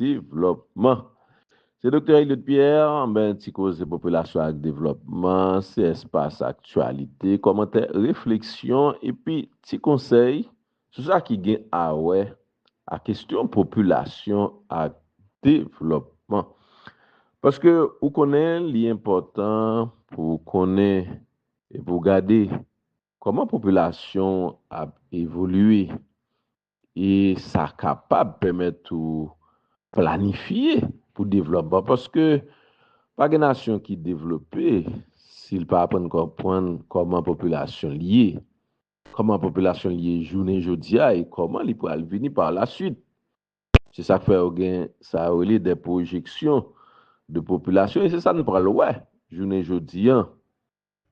Devlòpman. Se Doktè Eliot Pierre, men ti koze popilasyon ak devlòpman, se espas aktyalite, kòmantè, refleksyon epi ti konsèy sou sa ki gen awè ak kestyon popilasyon ak devlòpman. Paske ou konnen li enpòtan pou ou konnen e pou ou gade kòman popilasyon w ap evolye E sa kapab pèmèt ou planifye pou devlòpman paske pa gen nasyon ki devlope si l pa aprann konprann kòman popilasyon l ye, kòman popilasyon l ye jounen jodi a e kòman li pral vini par la suite. Se sa k fè yo gen sa yo rele des projections de population e se sa n pral wè jounen jodi an.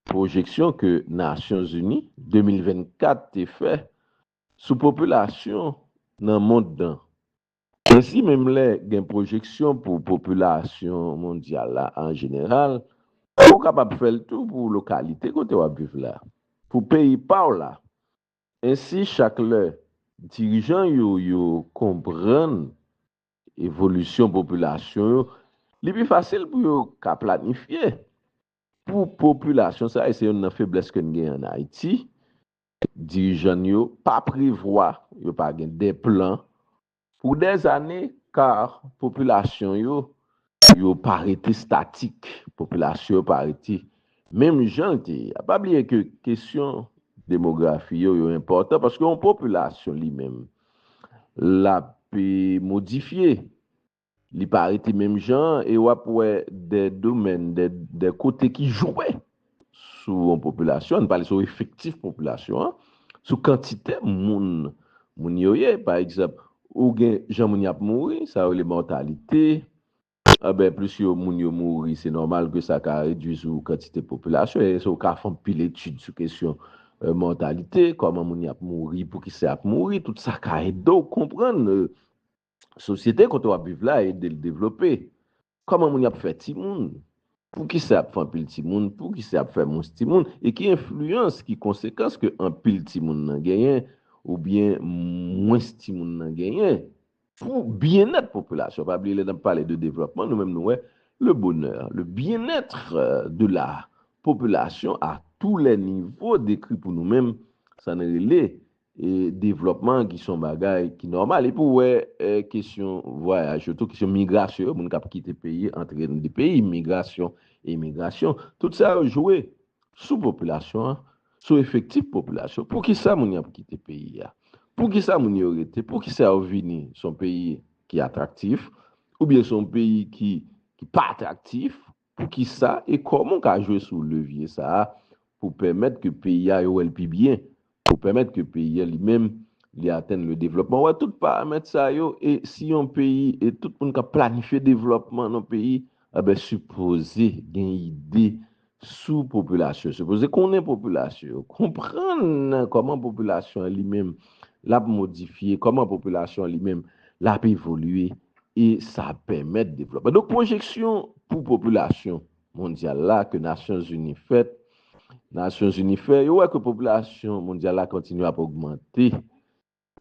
Pwojeksyon ke Nasyonzini, 2024, te fè sou popilasyon nan mond nan. Ensi menm lè gen pwojeksyon pou popilasyon mondyal la an jeneral, ou kapab fè l tou pou lokalite kote w ap viv la, pou peyi pa w la. Ensi chak lè dirijan yo yo konprann evolisyon popilasyon yo, li pi fasil pou yo ka planifye pou popilasyon sa. E se youn nan feblès ke n gen an Ayiti, Dirijan n yo pa prevwa, yo pa gen des plans pour des années car popilasyon yo, yo pa rete statik, popilasyon yo pa rete menm jan l te ye a. Pa bliye ke kesyon demografi yo, yo enpòtan paske yon popilasyon li menm l ap modifye. Li pa rete menm jan an e w ap wè de domèn, de kote ki jwe sou yon popilasyon, ann pale sou efektif popilasyon an, sou kantite moun moun yo ye. Pa egzanp, ou gen jan moun yo ap mouri, sa yo rele mòtalite, anben plis yo moun yo mouri se nòmal ke sa ka redui sou kantite popilasyon e sa ou ka fè anpil etid sou kesyon mòtalite, kòman moun yo ap mouri, poukisa y ap mouri, tout sa ka ede w konprann Sosyete kote w ap viv la ede l devlope. Kòman moun y ap fè timoun? Poukisa y ap fè anpil timoun? Poukisa y ap fè mwens timoun? E ki enfliyans, ki konsekans ke anpil timoun nan genyen oubyen mwens timoun nan genyen pou byennèt popilasyon? Pa bliye lè n ap pale de devlòpman nou menm nou wè le bonheur, le bien-être de la population à tous les niveaux dekri pou nou menm sa n rele devlòpman ki son bagay ki nòmal epi ou wè kesyon vwayaj yo tou kesyon migrasyon yo moun kap kite peyi antre nan de peyi migrasyon emigrasyon tout sa yo jwe sou popilasyon an sou efektif popilasyon poukisa moun yo ap kite peyi a poukisa moun yo rete poukisa yo vini son peyi ki atraktif oubyen son peyi ki pa atraktif Poukisa e kòman w ka jwe sou levye sa a pou w pèmèt ke peyi a yo wè l pi byen, pou w pèmèt ke peyi a li menm li atenn le devlòpman? Wè tout paramèt sa yo e si yon peyi e tout moun k ap planifye devlòpman nan peyi anben sipoze gen ide sou popilasyon, sipoze konnen popilasyon yo, konprann kòman popilasyon an li menm l ap modifye, kòman popilasyon an li menm l ap evolye e sa ap pèmèt devlòpman. Donk pwojeksyon pou popilasyon mondyal la ke Nasyonzini fèt, Nasyonzini fè, yo wè ke popilasyon mondyal la kontinye ap ogmante,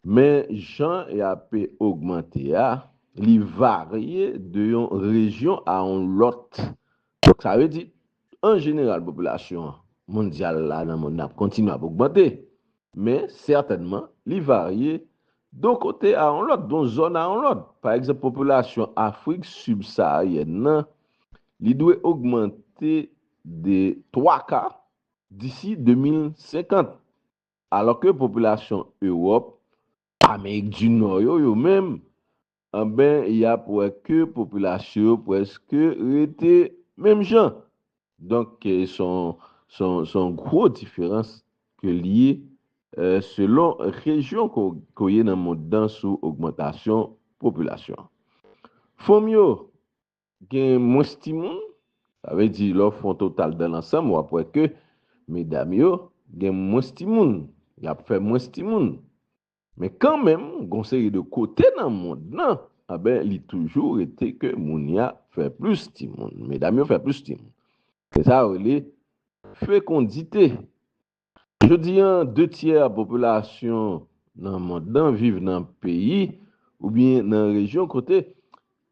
men jan y ape ogmante a, li varye de yon rejyon a yon lòt Donk sa vle di, an jeneral popilasyon mondyal la nan monn nan ap kontinye ap ogmante, men sètènman li varye don kote a yon lòt, don zòn a yon lòt. Pa egzanp popilasyon Afrik sibsaharyèn nan li dwe ogmante de twa ka disi 2050, alò ke popilasyon Ewòp, Amerik di Nò yo, yo menm anben y ap wè ke popilasyon yo prèske rete menm jan. Donk s on gwo diferans ke l ye selon rejyon ke w ye nan mond lan sou ogmantasyon popilasyon an. Fanm yo gen mwens timoun, sa vle di lè w fè yon total dan lansanm w ap wè ke medam yo gen mwens timoun, y ap fè mwens timoun. Men kanmenm gon seri de kote nan mond lan anben li toujou rete ke moun ya fè plis timoun, medam yo fè plis timoun. Se sa yo rele fekondite. Jodi an de tyè popilasyon nan mond lan viv nan peyi oubyen nan rejyon kote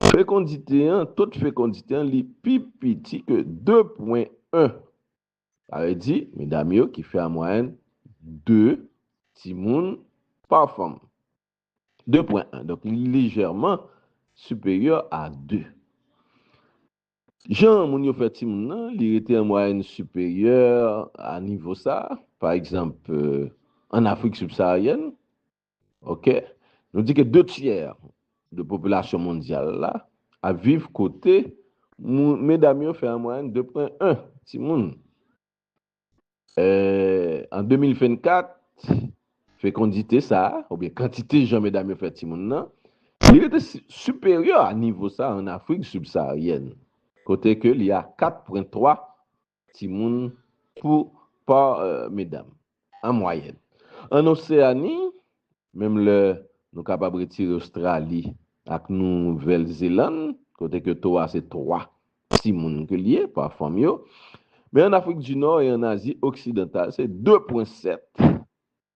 fekondite an, to de fekondite an li pi piti ke 2 pwen 1. Sa vle di, medam yo ki fè an mwayèn 2 timoun pa fanm. 2.1, Donk li lejèman siperyè a 2. Jan moun yo fè timoun nan, li rete an mwayèn siperyè a nivo sa a, pa egzanp, ann Afrik sibsaharyèn, Ok. Nou di ke 2 tyè de popilasyon mondyal la ap viv kote medam yo fè an mwayèn 2.1 timoun. An 2024, fekondite sa a, oubyen kantite jan medam yo fè timoun nan, li rete siperyè a nivo sa a an Afrik sibsaharyèn, kote ke li a 4.3 Timoun pou par medam. An mwayèn. An Oseani, menm lè nou kapab retire Ostrali ak Nouvèl Zelann, kote ke to a se 3 timoun ke li ye pa fanm yo, men an Afrik di Nò e an Azi Oksidantal se 2.7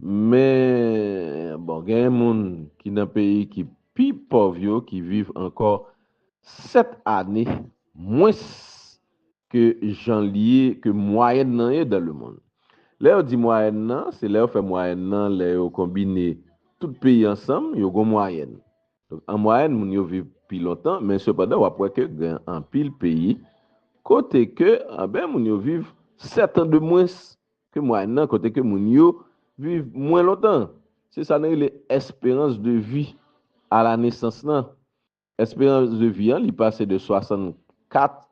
Men, bon, genyen moun ki nan peyi ki pi pòv yo ki viv ankò sèt ane mwens ke jan li ye, ke mwayèn nan ye dan lemonn. Lè yo di mwayèn nan, se lè yo fè mwayèn nan, lè yo konbine tout peyi ansanm, yo gon mwayèn. Donk, an mwayèn, moun yo viv pi lontan, men sepandan w ap wè ke gen anpil peyi kote ke, anben, moun yo viv sèt an de mwens Ke mwayèn nan kote ke moun yo viv mwen lontan. Se sa nou rele esperans de vi a la nesans lan. Esperans de vi an li pase de 64,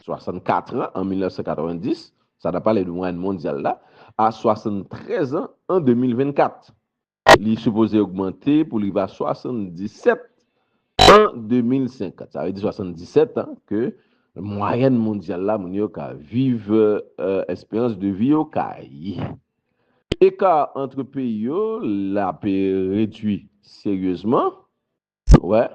64 an an 1990, sa nan pale de mwayèn mondyal la, a 73 an an 2024. Li sipoze ogmante pou li va 77 an 2050. Sa vle di 77 an ke mwayèn mondyal la moun yo ka viv esperans de vi yo ka ye. Eka antre peyi yo la pe redwi seryezman. Wè,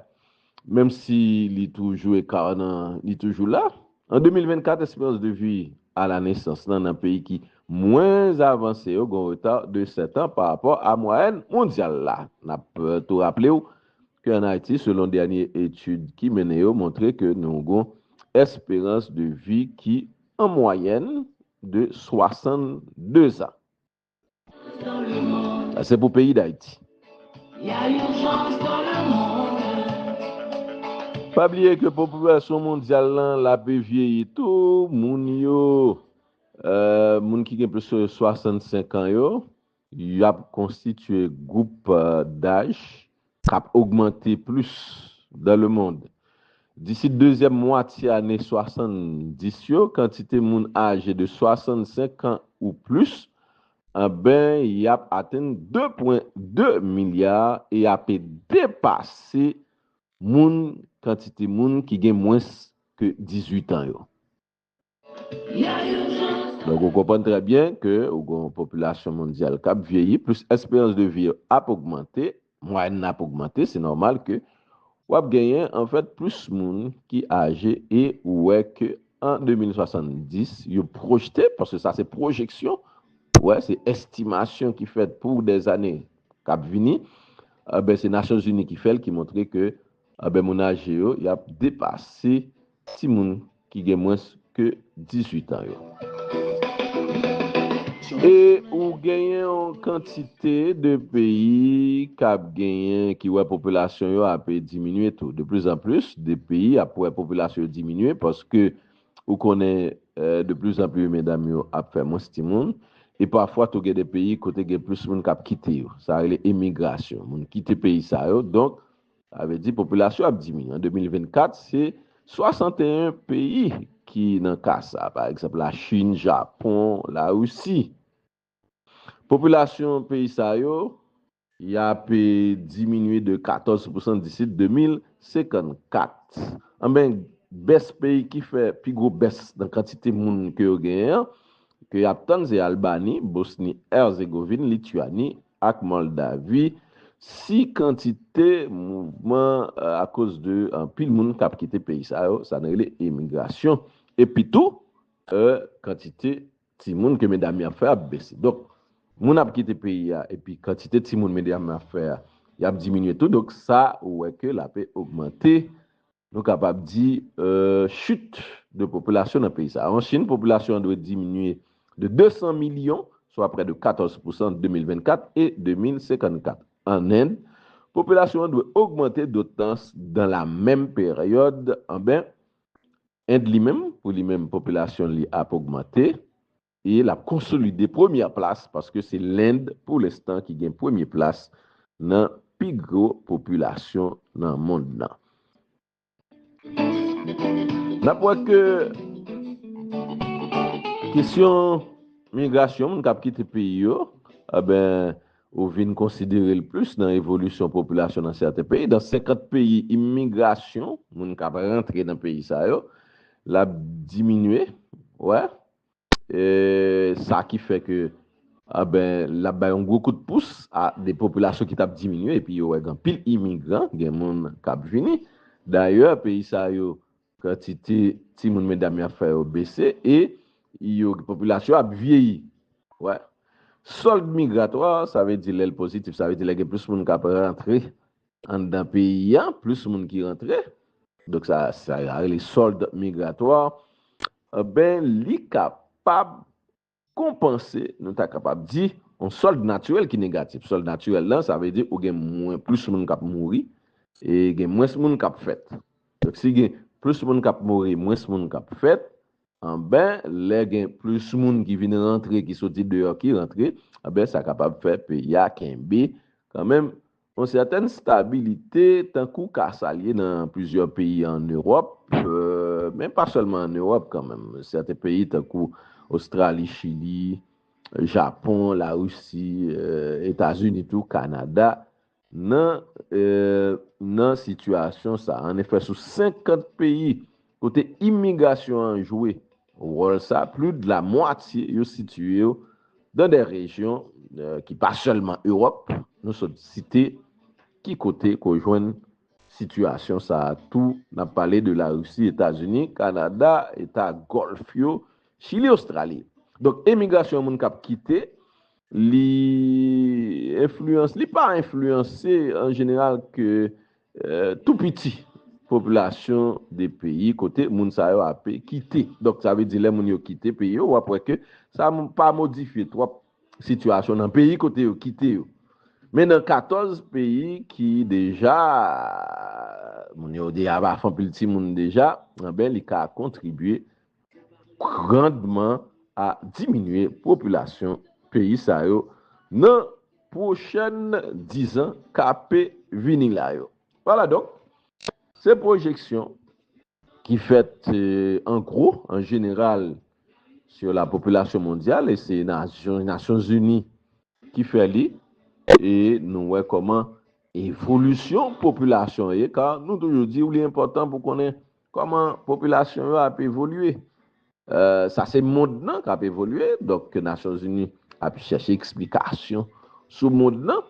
menm si li toujou ekar nan, li toujou la. An 2024, esperans de vi a la nesans lan nan peyi ki mwens avanse yo gen reta de 7 an pa rapò a mwayèn mondyal la. N ap tou raple w ke an Ayiti, selon dènye etid ki mennen yo, montre ke nou gen yon esperans de vi ki an mwayèn de 62 zan. Se pou peyi Dayiti. Pa bliye ke popilasyon mondyal lan lape vyeyi tou, moun yo, moun ki gen plis ke 65 an yo, yap konstitye gwoup daj k ap ogmante plis dan lemond. Disi dezyèm mwatye ane 70 yo, kantite moun aje de 65 kan ou plis, anben y ap atenn 2 pwen 2 milya e ape depase moun kantite moun ki gen mwens ke 18 an yo. Donk ou konprann trè byen ke ou gen yon popilasyon mondyal kap vyeyi plis esperans de vi yo ap ogmante, mwayèn nan ap ogmante, se nòmal ke wap genyen anfèt plis moun ki aje e ou wè ke an 2070 yo pwojte, paske sa se pwojeksyon, ou wè se estimasyon ki fèt pou dè zane kap vini, enben se Nasyonzini ki fèl ki montre ke enben moun aje yo yap depase Timoun ki gen mwens ke 18 an yo. E ou genyen yon kantite de peyi k ap genyen, ki wè popilasyon yo ape diminye tou. De plis an plis de peyi ap wè popilasyon yo diminye paske ou konnen de plis an pli medam yo ap fè mwens timoun. E pafwa tou gen de peyi kote gen plis moun k ap kite yo. Sa rele emigrasyon. Moun kite peyi sa yo. Donk. Sa vle di popilasyon ap diminye. An 2024, se 61 peyi ki nan ka sa a. Pa egzanp, Lachin, Japon, Larisi. Popilasyon peyi sa yo, y ap diminye de 14 pousan disi 2054. Anben, bès peyi ki fè pi gwo bès nan kantite moun ke yo genyen an, ke y ap tann se Albani, Bosni Erzegovin, Lityani, ak Moldavi si kantite mouvman akoz de anpil moun kap kite peyi sa yo, sa nou rele emigrasyon, epi tou kantite timoun ke medam yo ap fè ap bese. Donk moun ap kite peyi a epi kantite timoun medam yo ap fè a yap diminye tou donk sa ou wè ke lape ogmante Nou kapab di, chute de popilasyon nan peyi sa a. An Chin, popilasyon an dwe diminye de 200 milyon, swa prè de 14 pousan ant 2024 e 2054. An End, popilasyon an dwe ogmante dotans dan la menm peryòd. Anben, End li menm, pou li menm popilasyon li ap ogmante, e lap konsolide premyè plas paske se Lend pou lenstan ki gen premye plas nan pi gwo popilasyon nan mond lan. Nap wè ke kesyon migrasyon moun kap kite peyi yo, enben ou vin konsidere l plis nan evolisyon popilasyon nan sèten peyi, dan 50 peyi imigrasyon moun kap rantre nan peyi sa yo lap diminye, wè. E sa ki fè ke anben l ap bay yon gwo kout pous a de popilasyon ki t ap diminye epi yo wè gen anpil imigran, gen moun k ap vini. Dayè peyi sa yo kantite timoun medam y ap fè yo bese e yo popilasyon ap vyeyi. Wè sòld migratwa sa vle di lè l pozitif sa vle di lè gen plis moun k ap rantre Anndan peyi a, plis moun ki rantre. Donk sa sa yo rele solde migratoire. Ben li kapab konpanse, nou ta kapab di, yon solde natirèl ki negatif. Solde natirèl la, sa vle di ou gen mwen plis moun k ap mouri e gen mwens moun k ap fèt. Donk si gen plis moun k ap mouri, mwens moun k ap fèt, anben lè gen plis moun ki vin rantre, ki soti deyò, ki rantre, anben sa kapab fè peyi a kenbe kanmenm Yon sètèn stabilite tankou ka sa l ye nan plizyè peyi ann Ewòp, men pa sèlman ann Ewòp kanmenm. Sèten peyi tankou Ostrali, Chili, Japon, Larisi, Etazini tou, Kanada nan nan sitiyasyon sa a. Annefè, sou 50 peyi Kote imigrasyon an jwe wòl sa, plu de la mwatye yo sitiye yo dan dè rejyon ki pa sèlman Ewòp, nou sot site ki kote ke w jwenn sitiyasyon sa a tou, n ap pale de Larisi, Etazini, Kanada, eta Gòlf yo, Chili, Ostrali. Donk emigrasyon moun k ap kite, li enfliyanse, li pa enfliyanse an jeneral ke Tou piti popilasyon de peyi kote moun sa yo ape kite. Donk sa vle di lè moun yo kite peyi yo, w ap wè ke sa pa modifye twòp sitiyasyon nan peyi kote yo kite yo. Men nan 14 peyi ki deja moun yo deja pa fanpil timoun deja, anben li ka kontribye. grandman a diminye popilasyon peyi sa yo nan pwochèn dizan kape vini la yo. Vwala donk, se pwojeksyon ki fèt an gwo, an jeneral, sou lapopilasyon mondyal e se Nasyonzini Ki fè li e nou wè kòman evolisyon popilasyon an ye, ka nou toujou di ou li enpòtan pou konnen kòman popilasyon yo ap evolye. Sa se mond lan kap evolye, donk ke Nasyon Zini ap chèche eksplikasyon sou mond lan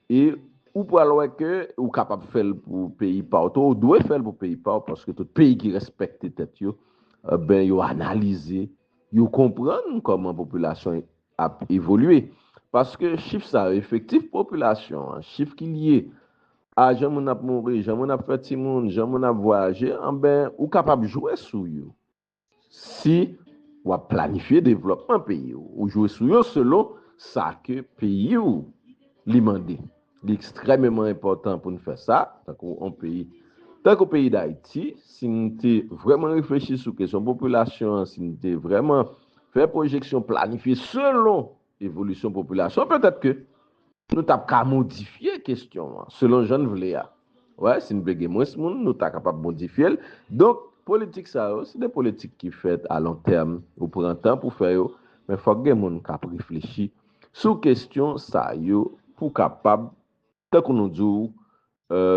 e ou pral wè ke ou kapab fè l pou peyi pa w tou, ou dwe fè l pou peyi pa w paske tout peyi ki rèspèkte tèt yo, ben yo analize, yo konprann kòman popilasyon ap evolye paske chif sa yo, efektif popilasyon an, chif ki lye a jan moun ap mouri, jan moun ap fè timoun, jan moun ap vwayaje, anben ou kapab jwe sou yo si w ap planifye devlòpman peyi w. Ou jwe sou yo selon sa ke peyi w li mande. Li ekstrèmeman enpòtan pou n fè sa, tankou yon peyi tankou peyi Dayiti, si n te vrèman reflechi sou kesyon popilasyon an, si n te vrèman fè pwojeksyon, planifye selon evolisyon popilasyon an, petèt ke nou t ap ka modifye kesyon an selon jan n vle a. Wè, si n vle gen mwens moun, nou ta kapab modifye l. Donk, politik sa yo, se de politik ki fèt alontèm. Ou pran tan pou fè yo, men fòk gen moun k ap reflechi Sou kestyon sa yo pou kapab, tankou nou di w,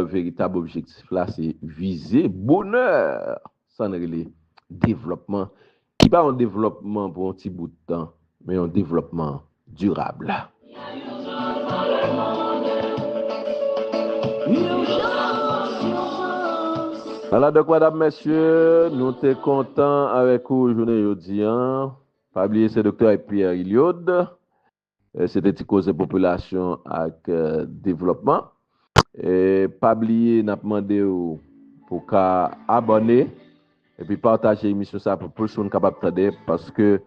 veritab objektif la se vize bonè, sa n rele devlòpman, ki pa yon devlòpman pou yon ti bout tan, men yon devlòpman dirab. Ala donk madam mesye, nou te kontan avèk ou jounen jodi an. Pa bliye se Doktè Pierre Illiod. Se te ti koze popilasyon ak devlòpman. Pa bliye nap mande w pou w ka abòne epi pataje emisyon sa pou plis moun kapab tande paske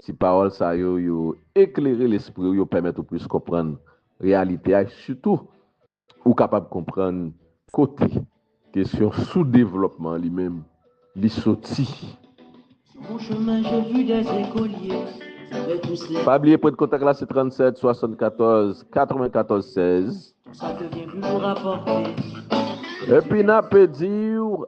ti pawòl sa yo yo eklere lespri w yo pèmèt ou plis konprann reyalite a sitou Ou kapab konprann kote kesyon soudevlòpman an li menm li soti. Pa bliye pwen de kontak la se 37 74 94 16. Epi n ape di w